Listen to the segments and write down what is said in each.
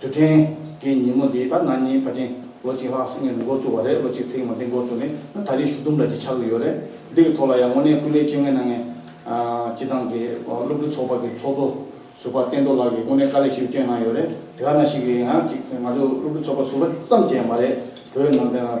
དུ་དྲན། དེའི་ཉིན་མོ་དེའི་ད་ནངས་ཉིན་ཕ་ཁྱིམ་ལོ་གཅིག་ལྷག་སི་ངེ་རུ་འགོ་བཙུགས་བ་རེད་ལོ་གཅིག་ཚེག་མ་འདི་འགོ་བཙུགས་ནས་ད་ལྟ་རི་ཞུ་དུམ་བརྒྱ་ཅིག་ཆགས་ཀྱི་ཡོད་རེད། འདི་གི་ཐོག་ལ་ཡང་དངོས་གནས་སྐུ་ལས་བསྐྱོན་མཁན་ན་ངས་སྤྱི་བཏང་གི་སློབ་ཕྲུག་ཚོགས་པ་གི་ཚོགས་གཙོ་ཟུར་པ་བསྟན་རྡོར་ལགས་ཀྱི་དངོས་གནས་དཀའ་ལས་ཞིག་བསྐྱོན་གནང་ཡོད་རེད་དེ་ག་ན་ཞིག་གི་ཡང་ཅིག་ང་ཚོ་སློབ་ཕྲུག་ཚོགས་པ་ཟུར་པ་ཙམ་གྱི་ཡང་མ་རེད་བོད་ནང་བསྟན་ལ།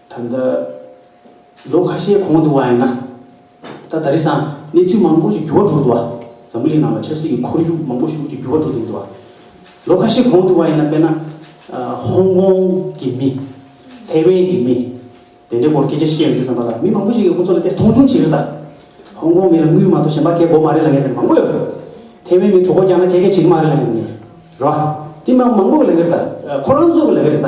ད་ལྟ་ལོ་ཁ་ཤས་གོང་དུ་བ་ཡིན་ན། ད་ད་རེས་སམ་གནས་ཚུལ་མང་པོ་ཞིག་འགྱུར་བ་འགྲོ་འདུག་བ། འཛམ་བུ་གླིང་ནང་ལ་ཆབ་སྲིད་ཀྱི་ཁོར་ཡུག་མང་པོ་ཞིག་ཀྱི་འགྱུར་བ་འགྲོ་འདུག་འདུག་བ། ལོ་ཁ་ཤས་གོང་དུ་བ་ཡིན་ན་དཔེར་ན། ཧོང་ཀོང་གི་མི། ཐའེ་ཝན་གྱི་མི། དེ་འདྲའི་སྐོར་སྐད་ཆ་བཤད་ཡོང་རྒྱུ་བསམ་པ་ལ་མི་མང་པོ་ཞིག་གིས་ཁོ་ཚོ་ལ་དེ་མཐོང་ཆུང་བྱེད་རིགས་དང། ཧོང་ཀོང་མི་ལ་དངུལ་མ་གཏོགས་གཞན་པ་ཁེ་གོ་མ་རེད་ལ་ངས་དེ་མང་པོ་ཡོད་རེད། ཐའེ་ཝན་མིས་གྲོགས་པོ་རྒྱག་ན་ཁེ་ཁེ་བྱེད་ཀྱི་མ་རེད་ལ་ངས་ངས་རེད། རེད་བ། དེ་མང་པོ་གི་ལ་ངས་རེད་ད། ཁོ་རང་ཚོ་གི་ལ་ངས་རེད་ད།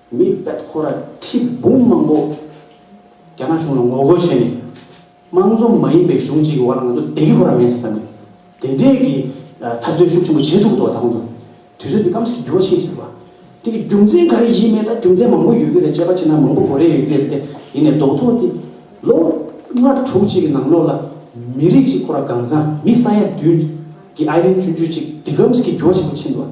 མི་བལ་ཁོ་ར་ཁྲི་འབུམ་མང་པོ་རྒྱ་ནག་གཞུང་ལ་ངོ་རྒོལ་བྱས་ནས། དམངས་གཙོ་མ་ཡིན་པའི་གཞུང་གཅིག་གི་བར་ལ་ང་ཚོ་བདེ་སྐྱིད་ཁོ་ར་མེད་ཟེར་ཐབས་མེད། དེ་འདྲའི་གི་འཐབ་རྩོད་ཤུགས་ཆེན་པོ་བྱས་འདུག་ཏུ་བ་ད་ང་ཚོ་དུས་ཚོད་འདི་སྐམ་སའི་འགྱུར་བ་ཕྱིན་ཟེར་བ། དེ་གི་རྒྱུ་མཚན་ག་རེ་ཡིན་མེད་ད་རྒྱུ་མཚན་མང་པོ་ཡོད་ཀྱི་རེད་དཔྱད་པ་བྱས་ན་མང་པོ་གོ་རེ་ཡོད་ཀྱི་རེད་དེ་ཡིན་ནས་རྡོག་ཐོ་དེ། ལོ་ལྔ་དྲུག་ཅིག་གི་ནང་ལོགས་ལ་མི་རིགས་གཅིག་ཁོ་ར་གང་བཟང་མི་ས་ཡ་བདུན་གི་ཨའི་རིན་ཅུན་ཅུ་ཅིག་འདི་སྐམ་སའི་འགྱུར་བ་ཆེན་པོ་ཕྱིན་ཏུ་བ།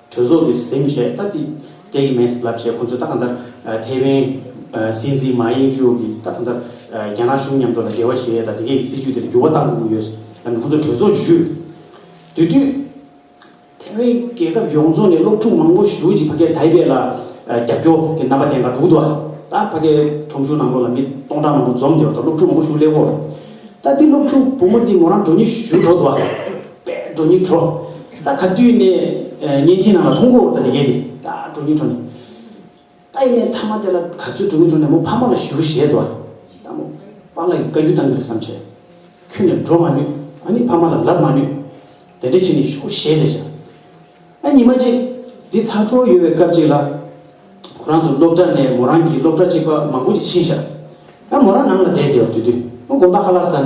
གྲོས་ཚོགས་ཀྱི་སེམས་ཤེས་ལྟ་དེ་སྤྲད་ཀྱི་མེད་ལབ་བྱས་ཁོང་ཚོས་ད་ག་འདར་ཐའེ་ཝན་སྲིད་འཛིན་མཱ་ཡེང་ཅུའོ་གིས་ད་ག་འདར་རྒྱ་ནག་གཞུང་མཉམ་དུ་ལ་འབྲེལ་བ་བྱེད་ཡས་དང་དེ་གས་ཀྱི་སྲིད་བྱུས་དེར་འགྱུར་བ་གཏང་དགོས་ཀྱི་ཡོད་ལབ་ནས་ཁོང་ཚོས་གྲོས་ཚོགས་ཀྱི་ཞུས། དེ་དུས་ཐའེ་ཝན་རྒྱལ་ཁབ་ཡོངས་རྫོགས་ནས་སློབ་ཕྲུག་མང་པོ་ཞུགས་ཀྱིས་ཕ་སྐད་དྷའི་བེད་ལ་རྒྱབ་སྐྱོ་གི་རྣམ་པ་དེ་འགའ་དྲུག་ཏུ་ད་ཕ་སྐད་ཁྲོམ་གཞུང་ནང་ལོགས་ལ་མི་སྟོང་ཕྲག་མང་པོ་འཛོམས་ཀྱི་རོ་ད་སློབ་ཕྲུག་མང་པོ་ཞུགས་སླེ་བོ། ད་དེ་སློབ་ཕྲུག་བུ་མོ་དེ་མོ་རང་འགྲོ་ཉི་ཞུ་འགྲོ་དུ་བ། པས་གྲོ་ཉིད་བྲོ། ད་ག་དུས་ནས་གཉན་ཐིས་ནང་ལ་ཐོང་གོ་ད་དེ་གས་དེ་ད་གྲོ་ཉིད་བྲོ་ནས། ད་ཡིན་ནས་ཐ་མ་དེ་ལ་ག་ཚོད་གྲོ་ཉིད་བྲོ་ནས་མོ་ཕ་མ་ལ་ཞུ་ཞེས་དོ། ད་མོ་པ་ལ་ཡི་ག་རྒྱུ་བཏང་གི་རེད་བསམ་བྱས། ཁྱོད་ནས་འགྲོ་མ་ནུས་ཨ་ནི་ཕ་མ་ལ་ལབ་མ་ནུས། དེ་འདྲ་བྱས་ནས་ཞུ་གོ་ཞེས་ལས་བྱ། ཨ་ཉི་མ་ཅིག་འདི་ཚ་ཁྲོ་ཡོད་པའི་སྐབས་ཅིག་ལ། ཁོ་རང་ཚོ་སློབ་གྲྭ་ནས་མོ་རང་གིས་སློབ་གྲྭ་གཅིག་པ་མང་པོ་ཅིག་ཕྱིན་བཞག། ཨ་མོ་རང་ནང་ལ་བསྡད་དེ་འོ་དུས་དུས་མོ་དགོན་པ་ཧ་ལ་ཟ།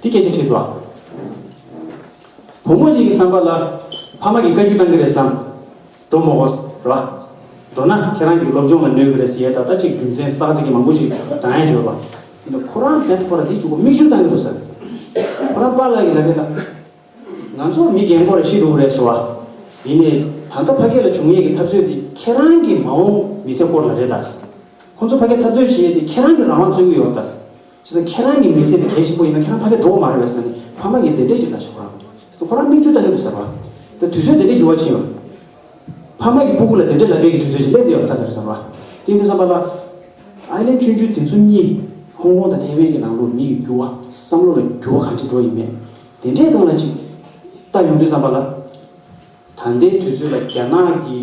འདི་སྐད་ཅེས་དྲིས་པ། བུ་མོ་ཡིད་ཀྱི་བསམ་པ་ལ། ཕ་མ་གི་བཀའ་རྒྱུད་གཏང་གི་རེད་བསམ། འགྲོ་མོ་བོ། ར། འགྲོ་ན་ཁྱེད་རང་གི་སློབ་སྦྱོང་ལ་གནོད་གི་རེད་ཟེར་ཡས་ད་ལྟ་ཅིག་རྒྱུ་མཚན་ཙག་ཙིག་གི་མང་པོ་ཞིག་བགྲང་ཡས་བརྗོད་པ། ཡིན་ནོ་ཁོ་རང་བོད་ཐོག་ལ་འདི་བྱུག་པ་མིག་ཆུ་བཏང་གི་འདུག་ཟེར། ཁོ་རང་པཱ་ལགས་ཀྱི་ལ་ཁེ་ལ། ང་ཚོ་མི་རྒན་མོ་རེ་ཤི་འདུག་རེད་ཟེར་བ། ཡིན་ནས་ད་ལྟ་ཕ་སྐད་ལ་བྱུང་ཡས་ཀྱི་འཐབ་རྩོད་འདི་ཁྱེད་རང་གི་མ་འོངས་མི་ཚེ་སྐོར་ལ་རེད་ད། ཁོ་ཚོ་ཕ་སྐད་འཐབ་རྩོད་བྱེད་ཡས་དེ་ཁྱེད་རང་གི་རང་དབང་རྩོད་གི་ཡོད་རེད་ད། བྱས་ཙང་ཁྱེད་རང་གི་མི་ཚེ་དེ་གལ་ཆེན་པོ་ཡིན་ན་ཁྱེད་རང་ཕ་མཐའི་འགྲོ་བ་མ་རེད་བས་ཟེར་ནས་ཕ་མ་གིས་བདེ་འབྲས་ཅིག་གདགས་ཤིག་ཁོ་རང་ཁོ་རང་མིག་ཆུ་ལྟ་གི་འདུག་ཟེར་བ། དེ་དུས་ཚོད་དེ་འདྲས་འགྱུར་བ་གྱིན་ཡོད། ཕ་མ་གི་སྤུ་གུ་ལ་དེ་འདྲས་ལབ་པའི་གི་དུས་ཚོད་ཅིག་སླེབས་འདི་ཡོད་ད་ཟེར་ཟེར་བ། དེ་ཡིན་དུས་བསམ་པ་ལ། ཨའི་ལན་ཆོས་འབྱུང་དེ་ཚོ་གཉིས། ཧོང་ཀོང་དང་ཐེ་ཝན་གྱི་ནང་ལོགས་མི་ཡི་འགྱུར་བ། བསམ་བློ་ལ་འགྱུར་བ་གང་ཅི་འགྲོ་ཡི་མེད། དེ་འདྲས་གང་ལ་ཅིག། ལྟ་ཡོང་དུས་བསམ་པ་ལ། ད་ལྟའི་དུས་ཚོད་ལ་རྒྱ་ནག་གི།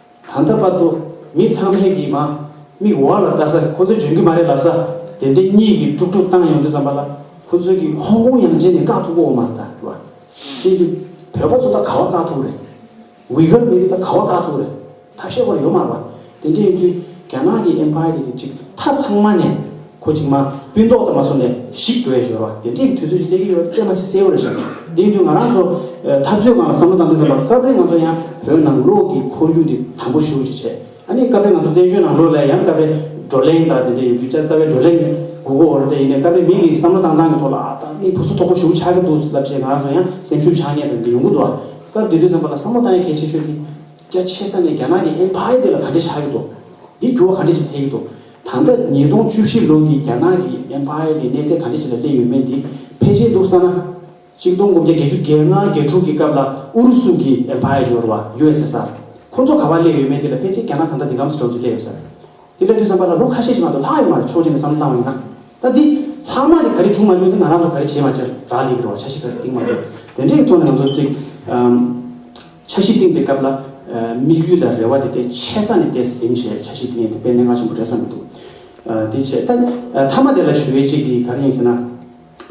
ད་ལྟ་བར་དུ་མི་ཚང་མས་ཀྱིས་མ་དམིགས་འོག་ལ་བལྟ་ས་ཁོ་ཚོ་འཇོན་གྱི་མ་རེད་ལབ་ས་དེ་འདྲས་གཉིས་ཀྱིས་དཀྲུག་དཀྲུག་བཏང་ཡོང་དུས་ཙམ་པ་ལ་ཁོ་ཚོས་ཀྱིས་ཧོང་ཀོང་ཡང་རྗེས་ནས་བཀག་ཐུབ་པོ་མ་རེད་ལྟ་བ་དེ་འདུག་བོད་པ་ཚོ་ད་ག་བ་བཀག་ཐུབ་རེད། ཝི་གྷར་མི་རིགས་ད་ག་བ་བཀག་ཐུབ་རེད་ད་ཤེས་པར་ཡོད་མ་རེད་པ་དེ་འདྲས་ཡིན་དུས་རྒྱ་ནག་གི Empire དེ་འདྲས་ཅིག་ད་ཚང་མ་ནས། ཁོ་ཅིག་མ་སྤུན་ཏོག་དང་མ་སོང་ནས་ཤིག་འགྲོ་ཡས་ཞོར་བ་དེ་འདྲས་ཀྱི་དུས་ཚོད་ཅིག་སླེབས་ཀྱི་ཡོད་པ་ཀྱང་མ་ཟད་གསལ་བོ་རེད་བཤད་དགོས་དེ་ཡིན་དུས་ང་རང་ཚོ་འཐབ་རྩོད་ཁང་ལ་བསམ་བློ་བཏང་དུས་བསམ་པ་སྐབས་རེ་ང་ཚོ་ཡང་བོད་ནང་ལོག་གི་ཁོར་ཡུག་དེ་དམ་པོ་ཤོར་ཅིག་བྱས་ཨ་ནི་སྐབས་རེ་ང་ཚོ་བཙན་བྱོལ་ནང་ལོག་སླད་ཡང་སྐབས་རེ་བགྲོ་གླེང་དང་དེ་འདྲས་ཡོད་དུས་ཅག་རྩ་བའི་བགྲོ་གླེང་ནི་གུ་གུ་འོར་དེ་ཡིན་ནས་སྐབས་རེ་མི་དགེ་གི་བསམ་བློ་བཏང་སྟངས་ཀྱི་ཐོག་ལ་ཨ་ད་ནི་ཕུ་སུ་ཐོག་པོ་ཞུགས་ཆགས་ཀྱི་འདུག་ཟེར་ལབ་བྱས་ང་རང་ཚོ་ཡང་སེམས་ཤུགས་ཆགས་ཉེས་དང་འདི་ཡོང་གི་འདུག་ཨ་སྐབས་དེ་དུས་བསམ་པ་ལ་བསམ་བློ་བཏང་ཡས་གལ་ཆེ་ཤོས་དེ་རྒྱ་ཆེ་ས་ནས་རྒྱ་ནག་གི་ཨེམ་ཕ་ཡ་དེ་ལ་ག་འདྲས་ཆགས་ཀྱི་འདུག་དེའི་འགྱུར་བ་ག་འདྲས་ཅིག་ཐེབས་ཀྱི་འདུག། ད་ལྟ་ཉིས་སྟོང་བཅུ་བཞི་ལོ་ནི་རྒྱ་ནག་གི Empire དེ་གནས་ཚད་གང་འདྲ་ཞིག་ལ་སླེབས་ཡོད་མེད་དེ་ཕལ་ཆེར་འདུག་ས་ན། གཅིག་སྟོང་དགུ་བརྒྱ་བརྒྱད་ཅུ་བརྒྱད་ལྔ་བརྒྱད་དྲུག་གི་སྐབས་ལ་ཨུ་རུ་སུ་གི Empire ཡོར་བ USSR ཁོ་ཚོ་ག་བར་སླེབས་ཡོད་མེད་དེ་ལ་ཕལ་ཆེར་རྒྱ་ནག་ད་ལྟ་འདི་ག་མི་སྲིད་གྲོགས་ཅིག་སླེབས་ཡོད་ས་རེད། དེ་ལས་དུས་བསམ་པ་ལ་ལོ་ཁ་ཤས་ཤིག་ལྷག་འདུག་ལྷག་ཡོད་མ་རེད་ཕྱོགས་ཅན་ནས་བསམ་བློ་བཏང་བ་ཡིན་ན། ད་འདི་ལྷག་མ་དེ་ག་རེ་བྱུང་མ་བྱུང་དེ་ང་རང་ཚོ་ག་རེ་བྱས་མ་བྱས་རག་ལས་ཀི་རེད་བ་ཆ་ཤིག་ག་རེ་གཏིང་མ་གཏིང་དེ་འདྲའི་ཐོག་ནས་ང་ཚོ་གཅིག། ཆ་གཞི་བཏིང་པའི་སྐབས་ལ། དམིགས་ཡུལ་དང་རེ་བ་དེ་དེ་ཆེ་ས་ནས་དེ་ཟིན་བྱས་ཆ་གཞི་བཏིང་ཡས་དེ་དཔེ་མན་ངག་ཆེན་པོ་རེད་བསམ་གྱི་འདུག་དེ་བྱས། ད་མཐའ་མ་དེ་ལ་ཞུ་བའི་གཅིག་གིས་ག་རེ་ཡིན་ཟེར་ན།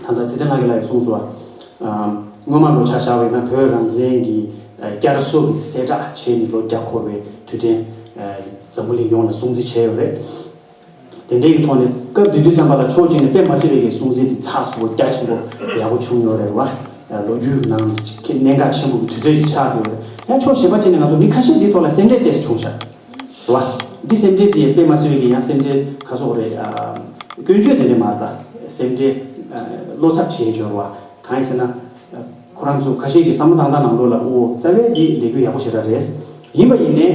ད་ལྟ་ཚེ་བརྟན་ལགས་ཀྱི་ལ་ཡིས་གསུངས་སོ། སྔོན་མ་ལོ་ཆ་བཞག་བས་ན་བོད་རང་བཙན་གྱི་བསྐྱར་གསོ་གི་གསལ་བསྒྲགས་བྱས་ནས་ལོ་བརྒྱ་འཁོར་བའི་དུས་དྲན། འཛམ་བུ་གླིང་ཡོངས་ལ་སྲུང་བརྩི་བྱས་ཡོད་རེད། དེ་འདྲའི་ཡིག་ཐོག་ནས་སྐབས་དེ་དུས་བྱམས་པ་ལ་ཕྱོགས་གཅིག་ནས་པད་མ་སེར་རིའི་གསུང་ཚིག་དེ་ཚགས་ཚུད་པོ་རྒྱ་ཆེན་པོ་ཡག་པོ་བྱུང་ཡོད་རེད་བ། ལོ་རྒྱུས་ཀྱི་ནང་གི་གནད་འགག་ཆེན་པོ་གི་དུས་ཚོད་ཅིག་ཆགས་ཡོད་རེད། ཡང་ཕྱོགས་གཞན་པ་ཅིག་ནས་ང་ཚོ་མི་ཁ་ཤས་འདིའི་ཐོག་ལ་སེམས་ཁྲལ་བལྟས་སུ་བྱུང་ཤག་རེད་བ། འདི་སེམས་ཁྲལ་དེ་པད་མ་སེར་རི་གི་ཡང་སེམས་ཁྲལ་ཁ་གསོག་རེད། སྐྱོན་བརྗོད་དེ་འདྲས་མ་རེད་ད། སེམས་ཁྲལ་བློ་འཚབ་བྱེད་འཇོར་བ། གང་ཡིན་ཟེར་ན། ཁོ་རང་ཚོ་ཁ་ཤས་ཀྱི་བསམ་བློ་དང་ཐང་ནང་ལོགས་ལ་དབུ་བོ་རྩ་བའི་འདི་ལས་རྒྱུ་ཡག་པོ་བྱེད་ར་རེད། ཡིན་པ་ཡིན་ནས།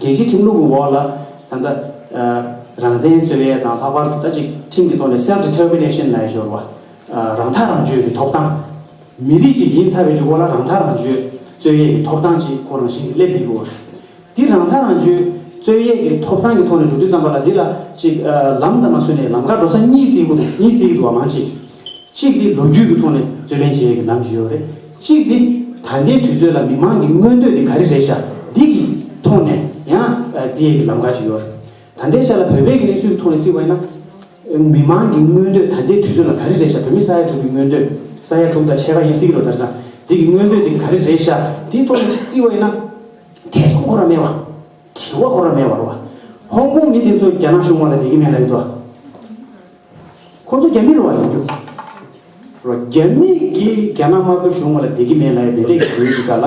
རྒྱལ་སྤྱིའི་ཁྲིམས་ལུགས་ཀྱི་འོག་ལ། ད་ལྟ། རང་བཙན་རྩོད་ཡས་དང་ལྷག་པར་དུ་ད་ཅིག་ཁྲིམས་ཀྱི་ཐོག་ནས Self Determination ལས་སྦྱོར་བ། རང་ཐག་རང་གཅོད་ཀྱི་ཐོབ་ཐང། མི་རིགས་ཀྱི་ཡིན་ཚར་བའི་འཇུག་པ་ལ་རང་ཐག་རང་གཅོད་རྩོད་ཡས་ཀྱི་ཐོབ་ཐང་ཅེས་ཁོ་རང་བཞིན་གྱིས་སླེབས་བསྡད་ཡོད། འདི་རང་ཐག་རང་གཅོད་རྩོད་ཡས་ཀྱི་ཐོབ་ཐང་གི་ཐོག་ནས་འགྲོ་དུས་ཙམ་པ་ལ་འདི་ལ་ཅིག་ལམ་དང་མ་བསྲོས་ནས་ལམ་ཁར་འགྲོ་ས་གཉིས་བརྩི་གི་འདུག་བ་མང་ཆེ། གཅིག་འདི་ལོ་རྒྱུས་ཀྱི་ཐོག་ནས་རྩོད་ལེན་བྱེད་ཡས་ཀྱི་ལམ་ཞིག་ཡོད་རེད། གཅིག་འདི་ད་ལྟའི་དུས་ཚོད་ལ་མི་མང་གི་མངོན་འདོད་དེ་ག་རེ་རེད་ཤག་འདི་གི་ཐོག་ནས་ཡང་བརྩི་ཡས་ཀྱི་ལམ་ག་ཅིག་ཡོད་རེད། ད་ལྟའི་ཆ་ལ་བོད་པའི་གནས་ཚུལ་གྱི་ཐོག་ནས་བརྩི་བ་ཡིན་ན། མི་མང་གི་མངོན་འདོད་ད་ལྟའི་དུས་ཚོད་ལ་ག་རེ་རེད་ཤག་བོད་མི་ས་ཡ་དྲུག་གི་མངོན་འདོད། ས་ཡ་དྲུག་དང་ཕྱེད་ཀ་ཡིན་སྲིད་ཀྱི་རོ་དར་ཚང་འདི་གི་མངོན་འདོད་དེ་ག་རེ་རེད་ཤག་འདིའི་ཐོག་ནས་ཅིག་བརྩི་བ་ཡིན་ན། ཐེ་ཚོམ་ཁོ་ར་མེད་བ། དྲི་བ་ཁོ་ར་མེད་བར་བ། ཧོང་ཀོང་མི་དེ་ཚོ་རྒྱ་ནག་གཞུང་དབང་ལ་དད་ཀྱི་མེད་ལ་ཡོད་དོ། ཁོང་ཚོ་རྒྱ་མི་རུ་བ་ཡིན་རྒྱུ་རོ། རྒྱ་མི་གིས་རྒྱ་ནག་དམར་པོའི་གཞུང་ང་ལ་བདེ་སྐྱིད་མེད་ལ་ཡ་བདེ་འདྲེ་ཞིག་ཡོད་ཅིག་ག་ལ།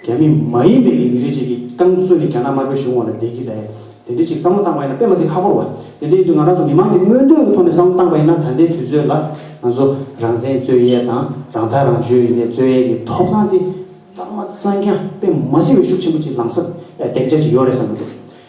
རྒྱ་མི་མ་ཡིན་པའི་རིགས་མི་རེ་གཅིག་གིས་རྐང་བཙུགས་ནས་རྒྱ་ནག་དམར་པོའི་གཞུང་ང་ལ་བདེ་སྐྱིད་ལ་ཡ་བདེ་འདྲེ་ཅིག་བསམ་བློ་བཏང་བ་ཡིན་ན་དཔེ་མ་ཚིག་ཁ་པོར་བ། དེ་འདྲའི་དུས་ང་རང་ཚོ་མི་མང་གིས་མངོན་འདོད་ཀྱི་ཐོག་ནས་བསམ་བློ་བཏང་བ་ཡིན་ན་ད་ལྟའི་དུས་ཚོད་ལ་ང་ཚོ་རང་བཙན་རྩོད་ཡས་དང་རང་ཐག་རང་གཅོད་ཡིན་ནའི་རྩོད་ཡས་ཀྱི་ཐོབ་ཐང་དེ་གཙང་མ་གཙང་རྐྱང་དཔེ་མ་ཚིག་བའི་ཤུགས་ཆེན་པོ་ཅིག་ལངས་ས་ཨ་གདེང་ཆ་ཅིག་ཡོད་རེད་བསམ་གྱི་འདུག་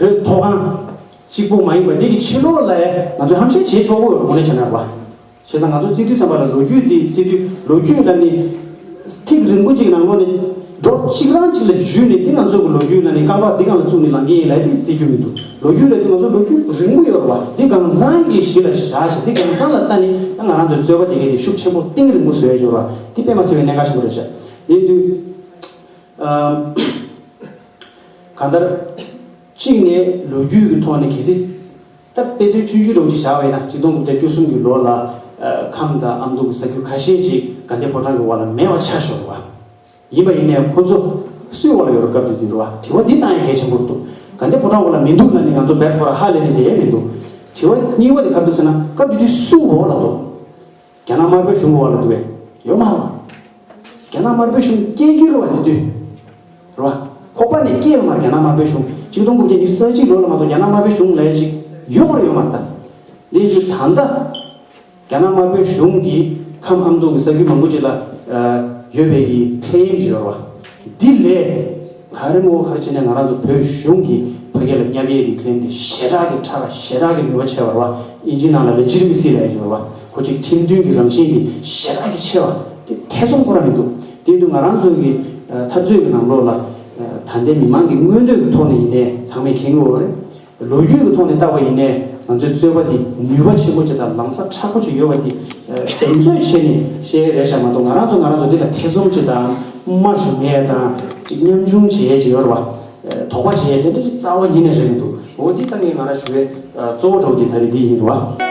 བོད་མཐོ་སྒང། གཅིག་པུ་མ་ཡིན་པར་འདི་གི་ཕྱི་ལོགས་ལ་ཡང་ང་ཚོས་ཧམ་བཤད་བྱེད་ཆོག་གོ་ངོ་ནས་བྱས་ན་རེད་བ། བྱས་ཙང་ང་ཚོ་བརྩེ་དུང་ཙམ་པ་ལ་ལོ་རྒྱུས་འདི་བརྩེ་དུས་ལོ་རྒྱུས་ལ་ནི། ཐིག་རིང་པོ་གཅིག་ནང་ལོ་ནི། སྒྲོག་གཅིག་རང་གཅིག་ལ་བརྒྱུས་ནས་འདི་ང་ཚོ་གི་ལོ་རྒྱུས་ལ་ནི་རྐང་པ་འདི་གང་ལ་བཙུགས་ནས་ལང་གི་ཡིན་ལ་དེ་བརྩེ་རྒྱུ་མི་འདུག་ལོ་རྒྱུས་ལ་འདི་ང་ཚོ་ལོ་རྒྱུས་རིང་པོ་ཡོད་རེད་བ། འདི་གང་ཟང་གི་གཞི་ལ་བཞག་ཅིང་འདི་གང་ཟང་ལ་ལྟ་ནི་ད་ང་རང་ཚོའི་རྩོད་པ་འདི་གའི་འདི་ཤུགས་ཆེན་པོ་གཏིང་རིང་པོ་བཟོས་ཡོད་རེད་བ། འདི་དཔེ་མ་ཟེར་བའི་གནད་འགག་ཆེན་པོ་རེད་བཤད་ཡིན་དུས། གང་ལྟར། གཅིག་ནས་ལོ་རྒྱུས་ཀྱི་ཐོག་ནས་གལ་སྲིད། ད་དཔེ་མཚོན་ཆུ་འཇུ་གྲོགས་ཀྱིས་བཞག་པའི་ན་གཅིག་སྟོང་དགུ་བརྒྱ་བཅུ་གསུམ་གྱི་ལོ་ལ། ཁམས་དང་ཨ་མདོ་གྱི་ས་རྒྱུ་ཁ་ཤས་ཅིག་དགའ་ལྡན་ཕོ་བྲང་གི་འོག་ལ་མེ་བ་ཆགས་ཤོར་བ། ཡིན་པ་ཡིན་ནའི་ཁོ་ཚོ་སུའི་འོག་ལ་ཡོད་རུ་སྐབས་དེ་དུས་རུ་བ་དྲི་བ་འདི་བཏང་ཡང་གལ་ཆེན་པོ་རུ་འདུག་དགའ་ལྡན་ཕོ་བྲང་འོག་ལ་མི་འདུག་ན་ནི་ང་ཚོ་བལ་ཕོ་ར་ཧ་ལས་ནས་བསྡད་ཡས་མི་འདུག་དྲི་བ་རྙིང་བ་དེ་ག་འདུག་ཟེར་ན་སྐབས་དེ་དུས་སུའི་འོག་ལ་འདུག་རྒྱ་ནག་དམར་པོའི་གཞུང་གི་བར་ལ་འདུག་པའི་ཡོད་མ་རེད། རྒྱ་ནག་དམར་པོའི་གཞུང་སྐྱེས་རྒྱུ་རེད་བ་དེ་དུས། རེད་བ། ཁོག་པ་ནས་སྐྱེས་ཡོད་མ་རེད་རྒྱ་ནག་དམར་པོའི་གཞུང་ཆིག་སྟོང་དགུ་བརྒྱ་ཉི་ཤུ་རྩ་གཅིག་ལོ་ལ་མ་གཏོགས་རྒྱ་ནག་དམར་པོའི་གཞུང་ལས་ཞིག་ཡོད་རེད་ཡོད་མ་རེད་ད། དེ་དུས་ད་ལྟ། རྒྱ་ནག་དམར་པོའི་གཞུང་གིས་ཁམས་ཨ་མདོ་གི་ས་ཁུལ་མང་པོ་ཅིག་ལ། ཡོད་པའི་གི་ཁྲལ་ཡིན་གྱི་ཡོད་རེད་བ། འདི་ལས། ད་རིང་བོ་ཁར་ཕྱིན་ནས་ང་རང་ཚོ་བོད་གཞུང་གིས་ཕ་སྐད་ལ་བསྙབ་གཡས་ཀྱིས་ཁེམས་ཏེ་ཞེ་དྲག་གི་ཁྲག་ག་ཞེ་དྲག་གི་ནུས་པ་ཆེ་བར་བ་ཨིན་ཇི་ནང་ལ་ལས་ཅིར་མི་སྲིད་པའི་འགྱུར་བ་ཁོ་ཅིག་ཁྲིམས་མཐུན་གྱི་རང་བཞིན་འདི་ཞེ་དྲག་གི་ཆེ་བ་དེ་ཐེ་ཚོམ་ཁོ་ར་མི་འདུག་དེ་འདུག་ང་རང་ཚོའི་གི་འཐབ་རྩོད་ཀྱི་ནང་ལོགས་ལ། ད་ལྟའི་མི་མང་གི་མངོན་འདོད་ཀྱི་ཐོག་ནས་ཡིན་ནའི་ཚང་མས་མཁྱེན་གི་འོ་རེད། ལོ་རྒྱུས་ཀྱི་ཐོག་ནས་བརྟགས་པ་ཡིན་ནའི་ང་ཚོའི་རྩོད་པ་དེ་ནུས་པ་ཆེན་པོ་ཆེ་དང་ལངས་ས་ཁྲག་པོ་ཆེ་ཡོད་པ་དེ་གདེང་ཚོད་བྱས་ནས་བཤད་ཡས་རེད་ཤག་མ་གཏོགས་ང་རང་ཚོ་ང་རང་ཚོ་འདི་ལ་ཐེ་ཚོམ་བྱེད་དང་མ་ཞུ་མ་ཡས་དང་ཅིག་ཉམ་ཆུང་བྱེད་ཡས་ཅིག་ཡོད་རེད་བ། དོགས་པ་བྱེད་ཡས་དེ་འདྲ་ཅིག་རྩ་བ་ཉིད་ནས་རེད་མི་འདུག་འོ་འདི་ལྟ་ངས་ང་རང་ཞུ་བའི་གཙོ་བོ་གྲོགས་ཀྱི་ད་རེས་འདི་ཡིན་རེད་བ།